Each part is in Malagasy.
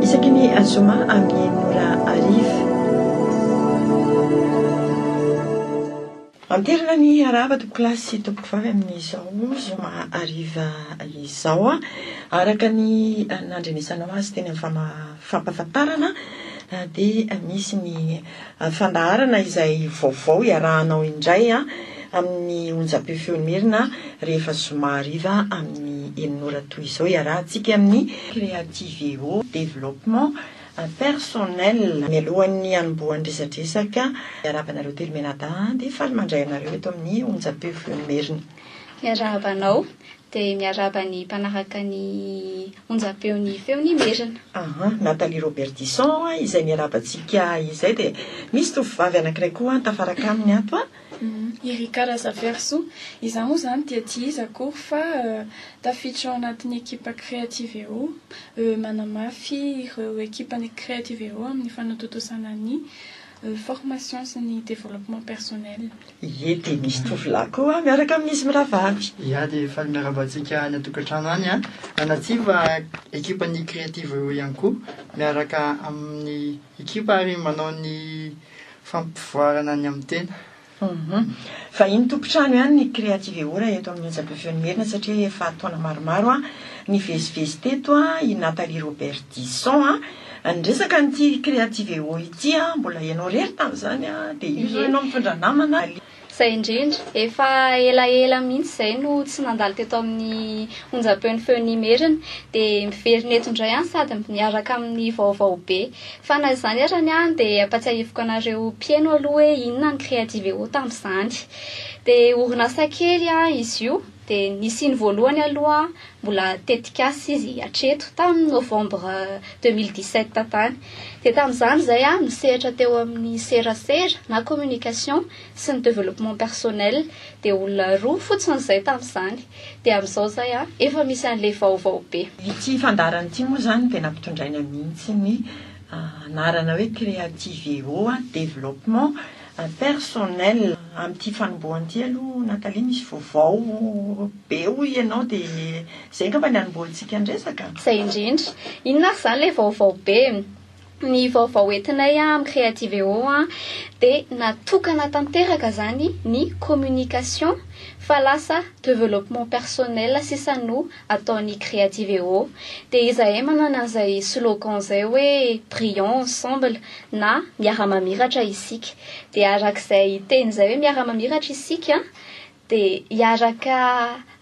Isaky ny zoma amin'ny enina ora hariva. Manterina ny harahaba tompokolahy sy tompokovavy amin'izao zoma hariva izao. Araka ny nandrenesanao azy teny amin'ny fampahafantarana dia misy ny. fandaharana izay vaovao iarahanao indray amin'ny onjam-peo Feo Merina rehefa zoma hariva amin'ny enina ora toy izao iarahantsika amin'ny Creative'O Développement Personnel. Mialohan'ny hanombohan'ny resadresaka miarahaba anareo telo mianadahy dia faly mandray anareo eto amin'ny onjam-peo Feo Merina. Miarahaba anao. dia miarahaba ny mpanaraka ny onjam-peon'ny Feon'Imerina. Ahaa, Nathalie Robertison izay miarahaba antsika izay dia misy tovovavy anankiray koa an tafaraka aminy ato an! I Rika Razafiarisoa. Izaho moa izany dia tsy iza akory fa tafiditra ao anatin'ny ekipa Creativeo. Manamafy ireo ekipan'ny Creativeo amin'ny fanatontosana ny formation sy ny développement personnel. Ie dia misy tovolahy koa miaraka amin'izy mirahavavy. Ia dia faly miarahaba antsika any an-tokantrano any an! Anatsiva ekipan'ny Creative Eo ihany koa miaraka amin'ny ekipa ary manao ny fampivoarana ny amin'ny tena. Vahiny tompon-trano ihany ny Creative Eo raha eto amin'ny Onjam-peo Feon'ny Merina satria efa taona maromaro nivezivezy teto i Nathalie Robertison. Raha niresaka an'ity Creativewo ity aho, mbola ianao irery tamin'izany an, dia io izao ianao mitondra namana an. Izay indrindra. Efa elaela mihitsy izay no tsy nandalo teto amin'ny onjam-peon'ny Feon'Imerina, dia miverina eto indray an, sady miaraka amin'ny vaovao be. Fa na izany arany an, dia ampatsiahiviko anareo mpieno aloha hoe inona ny Creativewo tamin'izany. Dia orinasa kely an izy io, dia nisiany voalohany aloha Mbola tetikasa izy hatreto, tamin'ny novembre deux mille dix sept tany. Dia tamin'izany izahay aho nisehatra teo amin'ny serasera na communication sy ny développement personnel, dia olona roa fotsiny izay tamin'izany. Dia amin'izao izay an, efa misy an'ilay vaovao be. Ity fandaharana ity moa izany dia nampitondraina mihitsy ny anarana hoe Creativeo Développement Impersonnel, amin'ity fanombohana ity aloha Nathalie misy vaovao be hoy ianao dia izay angamba ny hanombohantsika ny resaka? Izay indrindra. Inona ary izany ilay vaovao be? Ny vaovao entinay amin'ny Creativeo dia natokana tanteraka izany ny communication fa lasa developpement personnel sisa no ataon'ny Creativeo dia izahay manana an'izay slogan izay hoe Brillons ensemble na Miara-mamiratra isika. Dia arak'izay teny izay hoe Miara-mamiratra isika dia hiaraka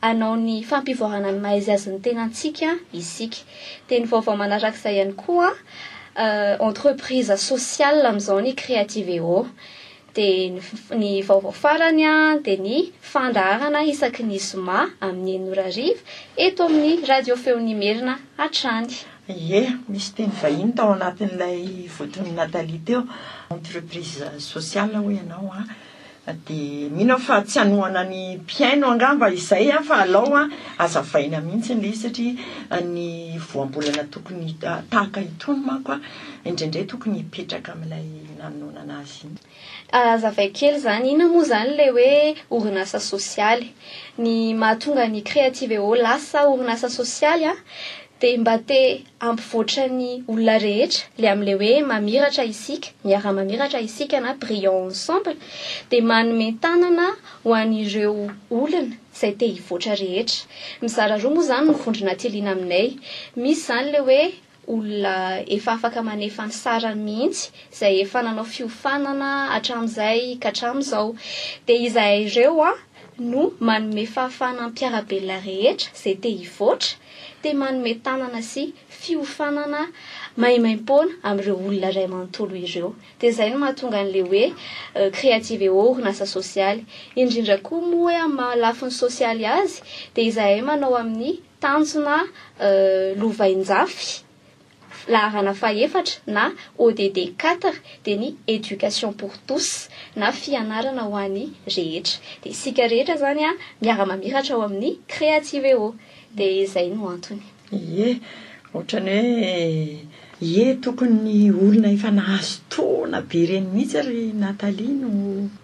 hanao ny fampivoarana ny maha-izy azy ny tenantsika isika. Dia ny vaovao manarak'izay ihany koa, Entreprise sociale amin'izao ny Creativeo. Dia ny ny vaovao farany dia ny fandaharana isaky ny zoma amin'ny enina ora hariva eto amin'ny Radio Feon'Imerina hatrany. Ie, misy teny vahiny tao anatin'ilay votoan'i Nathalie teo, entreprise sociale hoy ianao an! dia mino aho fa tsy hanohana ny mpihaino angamba izay an! fa alao an! azavaina mihitsy ilay izy satria ny voambolana tokony tahaka itony manko an! indraindray tokony hipetraka amin'ilay nanononana azy. Azavaiko kely izany, inona moa izany ilay hoe orinasa sosialy? Ny mahatonga ny Creativeo lasa orinasa sosialy an, dia mba te hampivoatra ny olona rehetra, ilay amin'ilay hoe mamiratra isika, miara-mamiratra isika na brillons ensemble, dia manome tanana ho an'ireo olona izay te hivoatra rehetra. Mizara roa moa izany ny vondrona Tiliana aminay, misy izany ilay hoe olona efa afaka manefa ny sarany mihitsy izay efa nanao fiofanana hatramin'izay ka hatramin'izao. Dia izahay ireo no manome fahafahana ny mpiara-belona rehetra izay te hivoatra, te manome tanana sy fiofanana maimaimpoana amin'ireo olona iray manontolo ireo. Dia izay no mahatonga an'ilay hoe Creative Eau orinasa sosialy. Indrindra koa moa hoe amin'ny maha lafiny sosialy azy dia izahay manao amin'ny. Tanjona, Lovainjafy, laharana fahefatra na ODD quatre dia ny Education pour tous na fianarana ho an'ny rehetra. Dia isika rehetra izany miara-mamiratra ao amin'ny Creativeo. Dia izay no antony. Ie, ohatran'ny hoe Ie tokony ny olona efa nahazo taona be ireny mihitsy ry Nathalie no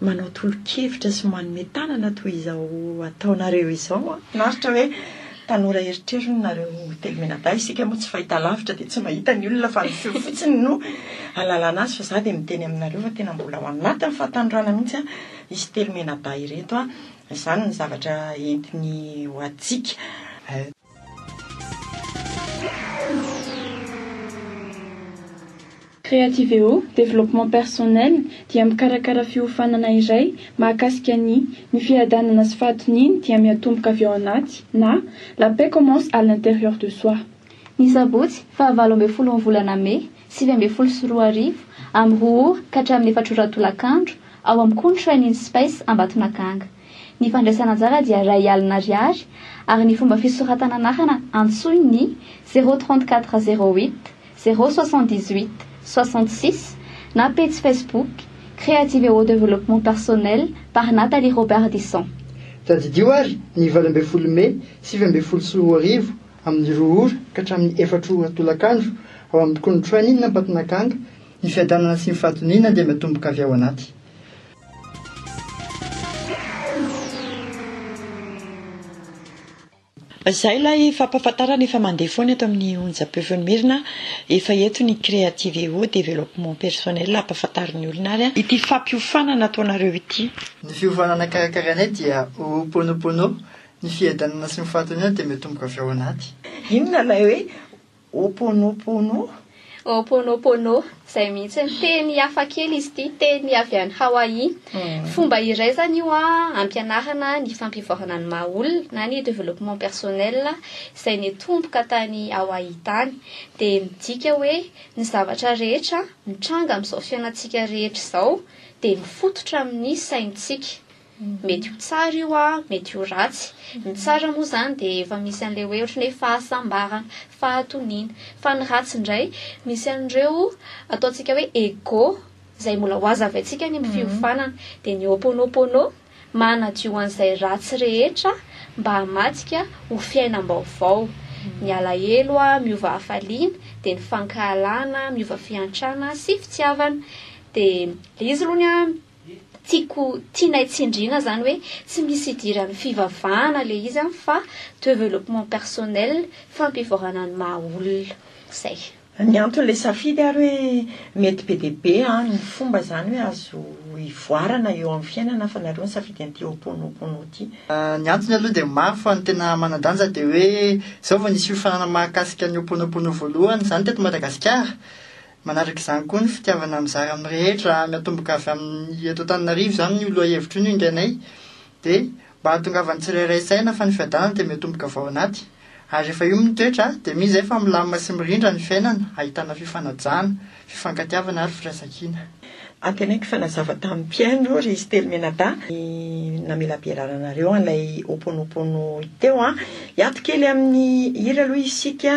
manao tolo-kevitra sy manome tanana toy izao ataonareo izao an! Finaritra hoe tanora erotrerony nareo telo mianadahy, isika moa tsy fahita lavitra dia tsy mahita ny olona fa ny feo fotsiny no alalana azy fa za dia miteny aminareo fa tena mbola ao anatin'ny fahatanorana mihitsy an izy telo mianadahy ireto an! izany ny zavatra entiny ho antsika. Creativeo, Développement personnel, dia mikarakara fiofanana iray mahakasika ny Ny fiadanana sy fahatoniany dia miatomboka avy ao anaty na La paix commence à l'intérieur de soi. Ny sabotsy faha valo ambin'ny folon'ny volana mey sivy ambin'ny folo sy roa arivo, amin'ny roa ora ka hatramin'ny efatra ora tolakandro, ao amin'ny Contraining Space Ambatonakanga. Ny fandraisana anjara dia iray alina ariary ary ny fomba fisoratana anarana antsoy ny zéro trente quatre zéro huit zéro soixante dix huit soixante six na pejy Facebook Creativewo Développement Personnel par Nathalie Robardisson. Tadidio ary ny valo ambin'ny folo mey sivy ambin'ny folo sy roa arivo amin'ny roa ora ka hatramin'ny efatra ora tolakandro ao amin'ny Kony Training Ambatonakanga, ny fiadanana sy ny fahatoniana dia miatomboka avy ao anaty. Izay ilay fampahafantarana efa mandeha foana eto amin'ny onjam-peofeon'Mirina, efa eto ny Creativeo, Développement Personnel, ampahafantarin'ny olona ary an. Ity fampiofanana ataonareo ity. Ny fiofanana karakarainay dia Ho'oponopono, ny fiadanana sy ny fahatoniana dia miatomboka avy ao anaty. Inona ilay hoe Ho'oponopono? Ho'oponopono, izay mihitsy. Teny hafa kely izy ity, teny avy any Hawaii. Fomba iray izany io hampianarana ny fampivoarana ny maha olona na ny développement personnel izay nitomboka tany Hawaii tany. Dia midika hoe ny zavatra rehetra mitranga amin'izao fiainantsika rehetra izao dia mifototra amin'ny saintsika. Mety ho tsara io a, mety ho ratsy. Ny tsara moa izany dia efa misy an'ilay hoe ohatran'ny hoe fahasambarana, fahatoniana. Fa ny ratsy indray, misy an'ireo ataontsika hoe ego, izay mbola hohazavaintsika ny amin'ny fiofanana. Dia ny Ho'oponopono manadio an'izay ratsy rehetra mba hamadika ho fiainam-baovao. Ny alahelo miova hafaliana, dia ny fankahalana miova fiantrana sy fitiavana. Dia ilay izy aloha ny Tiako tianay tsindriana zany hoe tsy misy idiran'ny fivavahana le izy an fa developpement personnel, fampivoarana ny maha olona. Zay. Ny anton'ilay safidy ary hoe mety be dia be an ny fomba zany hoe azo ivoarana eo amin'ny fiainana fa nareo nisafidy an'ity Ho'oponopono ity. Ny antony aloha dia maro fa ny tena manan-danja dia hoe izao vao nisy fiofanana mahakasika ny Ho'oponopono voalohany izany teto Madagasikara Manaraka izany koa ny fitiavana mizara amin'ny rehetra miatomboka avy amin'ny eto Antananarivo izany io lohahevitra io no ingainay dia mba hahatongavan'ny tsirairay saina fa ny fiadanana dia miatomboka avy ao anaty ary rehefa io mitoetra dia mino izay fa milamina sy mirindra ny fiainana ahitana fifanajana, fifankatiavana ary firaisankina. Antenaiko fa nazava tamin'ny mpihaino ry Stely Menadahy ny namelabelaranareo an'ilay Ho'oponopono teo an! Hiato kely amin'ny hira aloha isika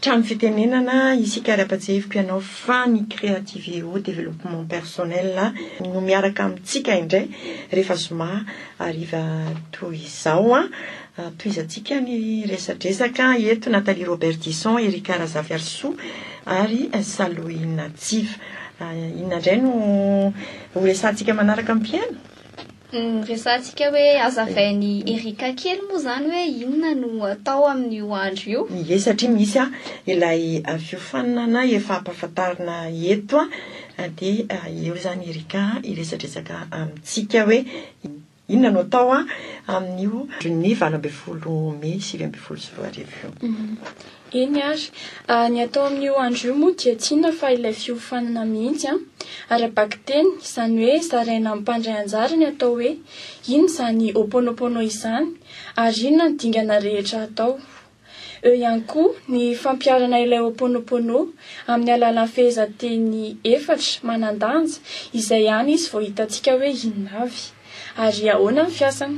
Trano fitenenana, isika ary ampatsahiviko ianao fa ny Creativeo Développement Personnel no miaraka amintsika indray rehefa zoma hariva toy izao an! Tohizantsika ny resadresaka eto, Nathalie Roberdison, Erika Razafiarisoa ary Salohy Natsiva. Inona indray no ho resahantsika manaraka mpiheno? Resahantsika hoe hazavain'i Erica kely moa izany hoe inona no atao amin'io andro io. Ie, satria misy ilay fiofanana efa ampahafantarina eto dia eo izany Erica hiresadresaka amintsika hoe inona no atao amin'io andron'ny valo ambin'ny folo mey sivy ambin'ny folo sy roa arivo io. Eny ary, ny atao amin'io andro io moa dia tsy inona fa ilay fiofanana mihitsy an! ara-bakiteny, izany hoe zaraina mpandray anjara ny atao hoe inona izany Ho'oponopono izany ary inona ny dingana rehetra atao. Eo ihany koa ny fampiharana ilay Ho'oponopono amin'ny alalan'ny fehezanteny efatra manan-danja izay any izy vao hitantsika hoe inona avy. ary ahoana ny fiasany?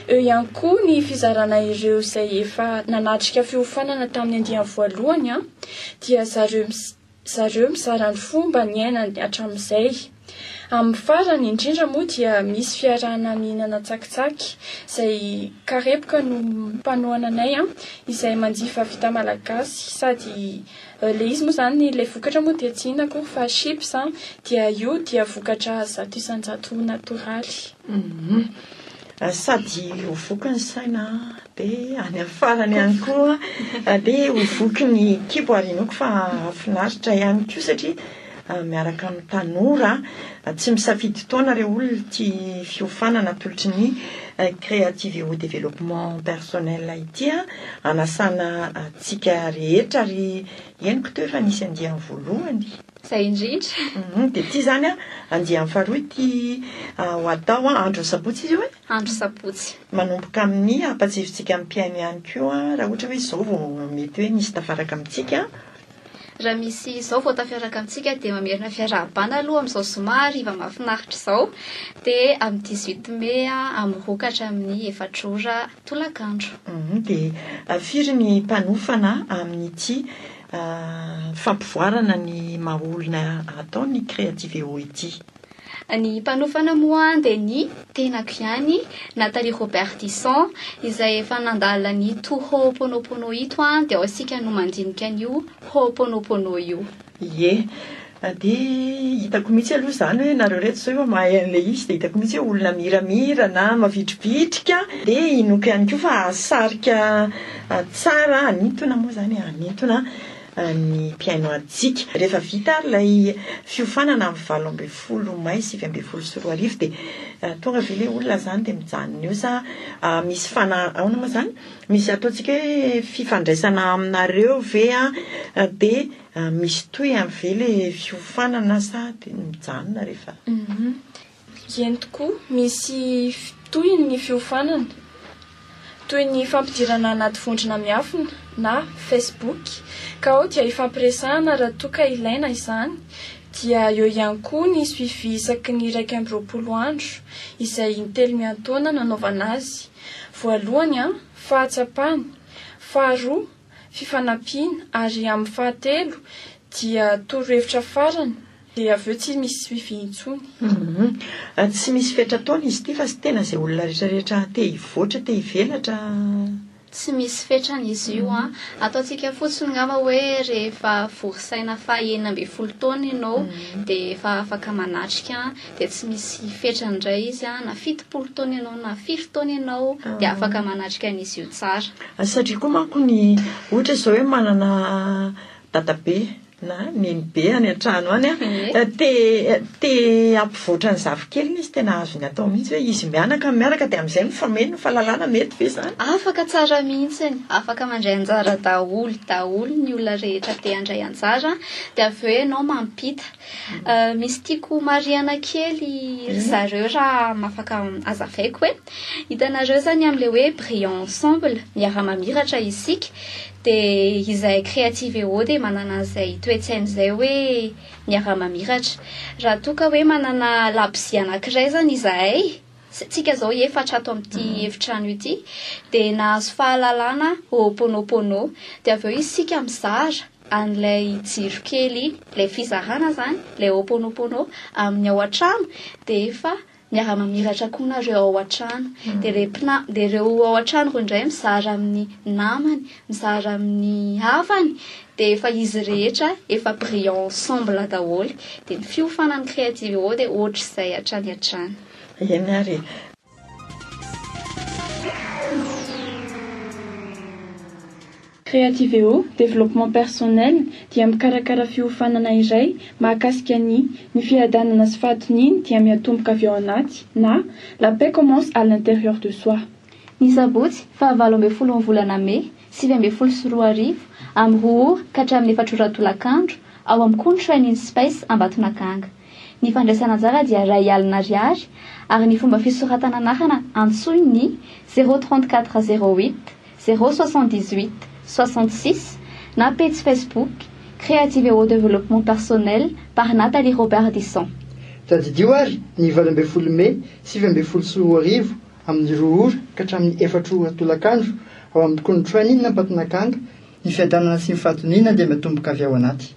Eo ihany koa ny fizarana ireo izay efa nanatrika fiofanana tamin'ny andiany voalohany dia zareo zareo mizara ny fomba niainany hatramin'izay. Amin'ny farany indrindra moa dia misy fiarahana mihinana tsakitsaky izay karepoka no mpanohana anay izay manjifa vita malagasy sady Le izy moa zany le vokatra moa dia tsy inona akory fa chips an, dia io dia vokatra zato isan-jato natoraly. Sady ho voky ny saina dia any amin'ny farany ihany koa dia ho voky ny kibo ary inoako fa hahafinaritra ihany koa satria miaraka amin'ny tanora. Tsy misafidy taona ireo olona ity fiofanana atolotry ny Creativeo Développement Personnel ity an. Anasana antsika rehetra ry henoko teo efa nisy andiany voalohany. Izay indrindra. Dia ity izany an, andiany faharoa ity ho atao an, andron'ny sabotsy izy io e? Andro sabotsy. Manomboka amin'ny hampatsiahintsika ny mpihaino ihany koa raha ohatra hoe izao vao mety hoe nisy tafaraka amintsika. Raha misy izao vao tafiaraka amintsika dia mamerina fiarahabana aloha amin'izao zoma hariva mahafinaritra izao dia amin'ny dix huit mai amin'ny roa ka hatramin'ny efatra ora tolakandro. Dia firy ny mpanofana amin'ity fampivoarana ny maha olona ataon'ny Creativéo ity? Ny mpanofa an'i Mohan dia ny tenako ihany, Nathalie Robertison, izay efa nandala an'ito Ho'oponopono ito an, dia ao isika no mandinika an'io Ho'oponopono io. Ie. Dia hitako mihitsy aloha izany hoe nareo ireto izao efa mahay an'ilay izy dia hitako mihitsy hoe olona miramira na mavitribitrika dia inoako ihany koa fa hahasarika tsara hanintona moa izany e, hanintona. ny mpihaino antsika. Rehefa vita ary ilay fiofanana amin'ny valo ambin'ny folo mai sivy ambin'ny folo sy roa arivo dia tonga ve ilay olona izany dia mijanona eo sa misy fana ahoana moa izany? misy ataontsika hoe fifandraisana aminareo ve an, dia misy tohiny ve ilay fiofanana sa dia mijanona rehefa. Eny tokoa, misy tohiny ny fiofanana, toy ny fampidirana anaty vondrona miafina na Facebook, ka ao dia ifampiresahana raha toa ka ilaina izany, dia eo ihany koa ny suivi isaky ny iraika amby roapolo andro, izay intelo miantaona nanaovana azy, voalohany an, fahatsapany, faharoa, fifanampiana, ary amin'ny fahatelo dia torohevitra farany, Dia avy eo tsy misy suivi intsony. Humm. Tsy misy fetra ataony izy ity fa tsy tena izay olona rehetra rehetra te hivoatra te hivelatra. Tsy misy fetrany izy io an! Ataontsika fotsiny ngamba hoe rehefa vory saina faha enina ambin'ny folo taona ianao dia efa afaka manatrika an! Dia tsy misy fetrany indray izy an! Na fitopolo taona ianao na firy taona ianao dia afaka manatrika an'izy io tsara. Satria koa manko ny ohatra izao hoe manana dadabe na nenibe any an-trano any a, te te hampivoatra ny zafikeliny izy, tena azony atao mihitsy hoe izy mianaka no mianaka dia amin'izay mifameno ny fahalalana, mety ve izany? Afaka tsara mihitsiny, afaka mandray anjara daholo daholo ny olona rehetra te handray anjara dia avy eo ianao mampita. Misy tiako homarihana kely ry zareo raha afaka hazavaiko hoe, hitanareo izany amin'ilay hoe Brillons ensemble, miara-mamiratra isika, Dia izahay Creativeo dia manana an'izay toe-tsaina izay hoe miara-mamiratra. Raha toa ka hoe manana labozia anankiray izany izahay, isika izao efatra ato amin'ity efitrano ity, dia nahazo fahalalana Ho'oponopono. Dia avy eo isika mizara an'ilay jiro kely iny, ilay fizarana izany, ilay Ho'oponopono amin'ny ao an-trano dia efa miara-mamiratra koa nareo ao an-trano dia le mpina- dia ireo ao an-trano ireo indray mizara amin'ny namany mizara amin'ny havany dia efa izy rehetra efa brillant ensemble daholo dia ny fiofanan'ny creative eo dia ohatr'izay hatrany hatrany Eny ary e. Creativeo, Développement personnel, dia mikarakara fiofanana iray mahakasika ny Ny fiadanana sy fahatoniany dia miatomboka avy ao anaty na La paix commence à l'intérieur de soi. Ny sabotsy faha valo ambin'ny folon'ny volana mey sivy ambin'ny folo sy roa arivo, amin'ny roa ora ka hatramin'ny efatra ora tolakandro, ao amin'ny Conshine in Space Ambatonakanga. Ny fandraisana anjara dia iray alina ariary ary ny fomba fisoratana anarana antsoy ny zéro trente quatre zéro huit, Zéro soixante dix huit soixante six na pejy Facebook Creative Eau Développement Personnel par Nathalie Roberdisson. Tadidio ary ny valo ambin'ny folo mey sivy ambin'ny folo sy roa arivo amin'ny roa ora ka hatramin'ny efatra ora tolakandro ao amin'ny Kony Train Inn Ambatonakanga ny fiadanana sy ny fahatoniana dia miatomboka avy ao anaty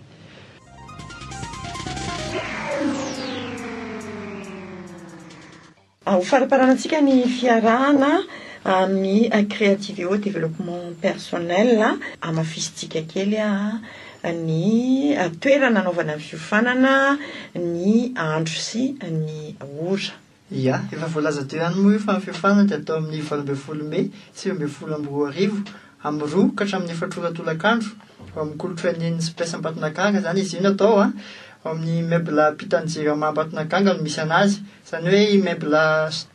Ho fariparanantsika ny fiarahana amin'ny Creativeo Développement Personnel, hamafisintsika kely ny toerana hanaovana ny fiofanana, ny andro sy ny ora. Ia, efa voalaza teo ihany moa io fa ny fiofanana dia atao amin'ny valo ambin'ny folo mey sivy ambin'ny folo amby roa arivo amin'ny roa ka hatramin'ny efatra ora tolakandro. Ao amin'ny kolontsain'ny Spes Ambatonakanga izany izy io no atao. Ao amin'ny Mebla ampitan'ny Jirama Ambatonakanga no misy an'azy. Izany hoe i Mebla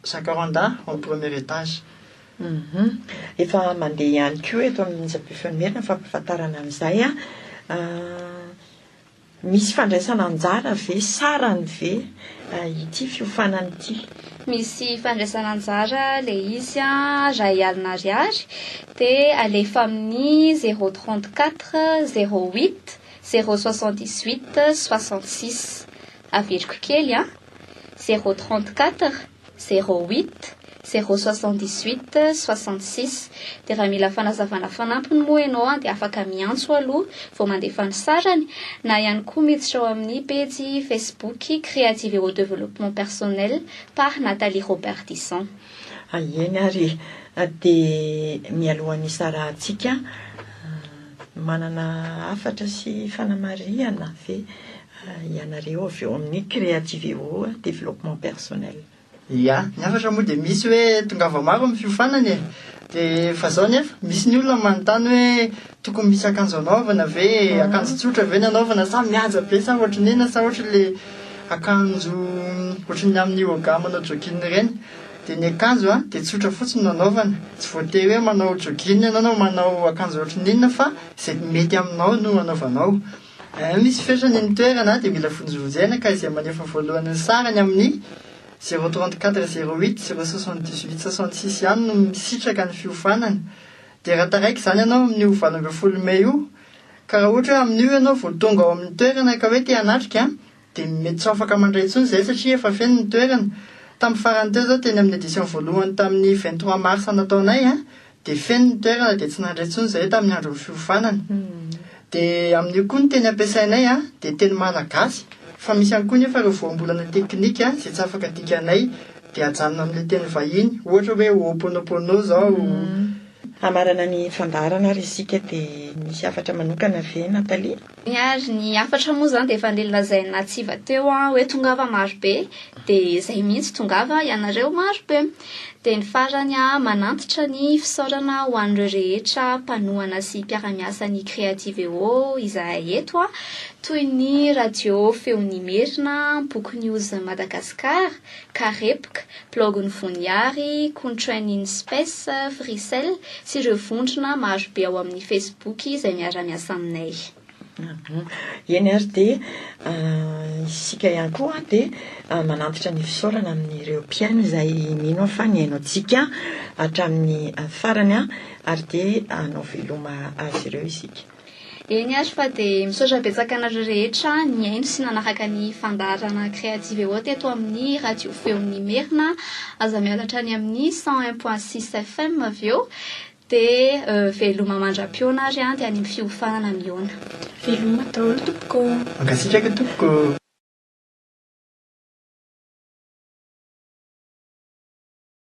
Jacaranda ao amin'ny premier étage. Efa mandeha ihany koa eto amin'ny Japy Efemerina ny fampahafantarana an'izay. Misy fandraisana anjara ve sarany ve ity fiofanana ity? Misy fandraisana anjara ilay izy raha i Alina Ariary dia alefa amin'ny zéro trente quatre zéro huit zéro soixante dix huit soixante six. Averiko kely an! Zéro trente quatre zéro huit, zéro soixante dix huit, soixante six. Dia raha mila fanazavana fanampiny moa ianao dia afaka miantso aloha vao mandefa ny sarany, na ihany koa miditra ao amin'ny pejy Facebook Creative Hero Développement Personnel par Nathalie Robert-Disson. Ahiaino ary dia mialoha ny isarahantsika, manana hafatra sy fanamarihana ve? ianareo avy eo amin'ny Creativeo Développement Personnel. Ia, ny hafatra moa dia misy hoe tongava maro amin'ny fiofanana e! Dia fa zao nefa, misy ny olona manontany hoe tokony misy akanjo anaovana ve e? Akanjo tsotra ve ny anaovana sa mihaja be sa ohatry ny inona sa ohatry le akanjo ohatry ny amin'ny yoga manao jogging ireny? Dia ny akanjo an, dia tsotra fotsiny no anaovana. Tsy voatery hoe manao jogging ianao na manao akanjo ohatry ny inona fa izay mety aminao no anaovanao. Raha misy fetrany ny toerana dia mila vonjivonjena ka izay manefa voalohany ny sarany amin'ny zéro trente quatre zéro huit zéro soixante dix huit soixante six ihany no misitraka ny fiofanana dia raha taraiky izany ianao amin'io valo ambin'ny folo mey io ka raha ohatra hoe amin'io ianao vao tonga ao amin'ny toerana ka hoe te hanatrika dia mety tsy ho afaka mandray intsony izay satria efa feno ny toerana. Tamin'ny farany teo izao teny amin'ny édition voalohany tamin'ny vingt trois mars nataonay an, dia feno ny toerana dia tsy nandray intsony izahay tamin'ny andron'ny fiofanana. Dia amin'io koa ny teny ampiasainay an, dia teny malagasy, fa misy ihany koa nefa ireo voambolana teknika izay tsy afaka dikanay dia ajanona amin'ilay teny vahiny, ohatra hoe ho'oponopono izao. Hamarana ny fandaharana ary isika dia misy hafatra manokana ve Nathalie? Ary ny hafatra moa izany dia efa nlazain'i Natsiva teo hoe tongava marobe dia izay mihitsy tongava ianareo marobe. Dia ny farany manantitra ny fisaorana ho an'ireo rehetra mpanohana sy mpiara-miasa ny Creativeo izahay eto toy ny Radio Feon'Imerina, Book News Madagascar, Karepoka, blaogin'i Voniary, Contrain in Space, Fricel, sy ireo vondrona marobe ao amin'ny Facebook izay miara-miasa aminay. Eny ary dia isika ihany koa dia manantitra ny fisaorana amin'ireo mpihaino izay mino aho fa nihaino antsika hatramin'ny farany ary dia hanao veloma azy ireo isika. Eny ary fa dia misaotra betsaka anareo rehetra nihaino sy nanaraka ny fandaharana Creative et Haute eto amin'ny Radio Feon'ny Merina. Aza miala hatrany amin'ny cent un point six FM avy eo dia veloma mandra-pihaona ary dia any amin'ny fiofanana mihaona. Veloma daholo tompoko ô! Mankasitraka tompoko.